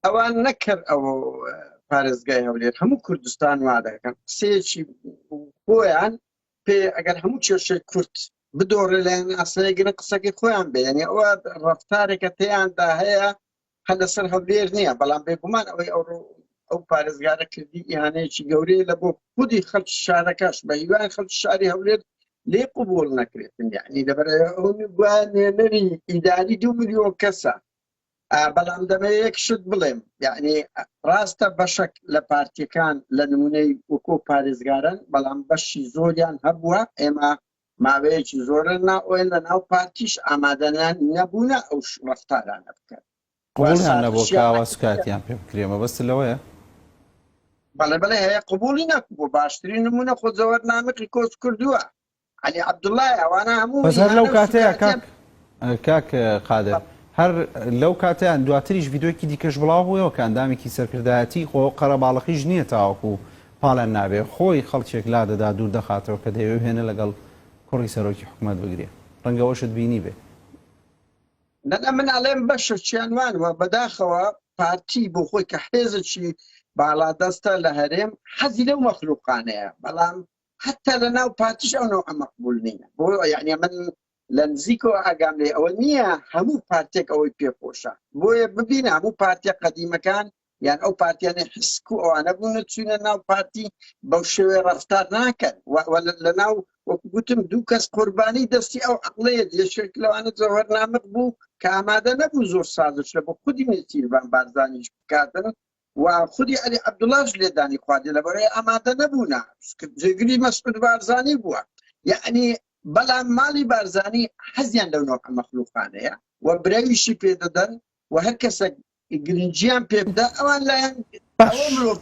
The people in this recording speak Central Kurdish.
ئەوان نەکرد ئەوە پارێزگای هەولێر هەموو کوردستان وا دەکەن قسەیەکی خۆیان پێ ئەگەر هەموو کێشەی کورت بدۆڕێ لایەن ئاسایگرن قسەکەی خۆیان بێنێ ئەوە ڕفتارێکە تیاندا هەیە هەر لەسەر هەولێر نییە بەڵام بێگومان ئەوەی ئەو ئەو پارێزگارە کردی ئیهانەیەکی گەورەیە لە بۆ خودی خەڵک شارەکەش بە هیوان خەڵک شاری هەولێر لێ قوبول نەکرێتن یعنی لەبەر گوانێنەری ئیداری دو میلیۆن کەسە بەڵام دەمەوێ یەک شت بڵێم یعنی ڕاستە بەشەک لە پارتیەکان لە نمونەی وکۆ پارێزگارن بەڵام بەشی زۆریان هەبووە ئێمە ماوەیەکی زۆرە ناوەن لە ناو پارتیش ئامادەیان نەبوونە ئەو ڕفتارانە بکەن قوڵیان نەبوو کاوە سوکاتیان پێ بکرێ مەبەست لەوەیە بەڵێ بڵێ هەیە قوبولی نەکبوو باشترین نمونە خۆ زەوەر نامقی کۆچ کردووە عەلی عەبدوڵڵا ئەوانە هەموو بەس هەر لەو کاتەیە کاک کاک قادر هەر لەو کاتیان دواتریش یددیوکی دیکەش بڵاو بووەوە کە ئەندامێکی سەرکردایەتی خۆ قەرەباڵەقیش نییە تاوەکو و پاڵیان نابێ خۆی خەڵکێک لا دەدا دوور دەخاتەوە کە دەیەوێ هێنە لەگەڵ کوڕی سەرۆکی حکوومەت بگرێ ڕەنگەوەشت بینی بێ نەنا من ئەڵێم بەشە چیان وانوە بەداخەوە پارتی بۆ خۆی کە حێزەکی باڵادەستە لە هەرێم حەزی لەو مەخلوقانەیە بەڵام حتى لە ناو پارتیش ئەو نەوعە مەقبول نییە بۆ یعنی من لە نزیکەوە ئاگام لێ ئەوە نییە هەموو پارتێک ئەوەی پێخۆشە بۆیە ببین هەموو پارتیە قەدیمەکان یان ئەو پارتیانە حسک و ئەوانە بوون چوینە ناو پارتی بەو شێوێ ڕفتار ناکەن لە ناو وەکوگوتم دوو کەس قوربانی دەستی ئەو عقلەیە یەشێک لەوانە زەوەر نامق بوو کە ئامادە نەبوو زۆر سازش لە بۆ خودی نێتیربان بارزانیش بکاتن و خودی عەلی عەبدوڵاش لێدانی خواردی لەبەرەی ئامادە نەبوونا جێگری مەسعود بارزانی بووە یعنی بەڵام ماڵی بارزانی حەزیان لەو نۆع مەخلوقانەیە و برەویشی پێدەدەن و هەر کەسێک گرنجیان پێ بدە ئەوان لایەن ئەوە مرۆڤ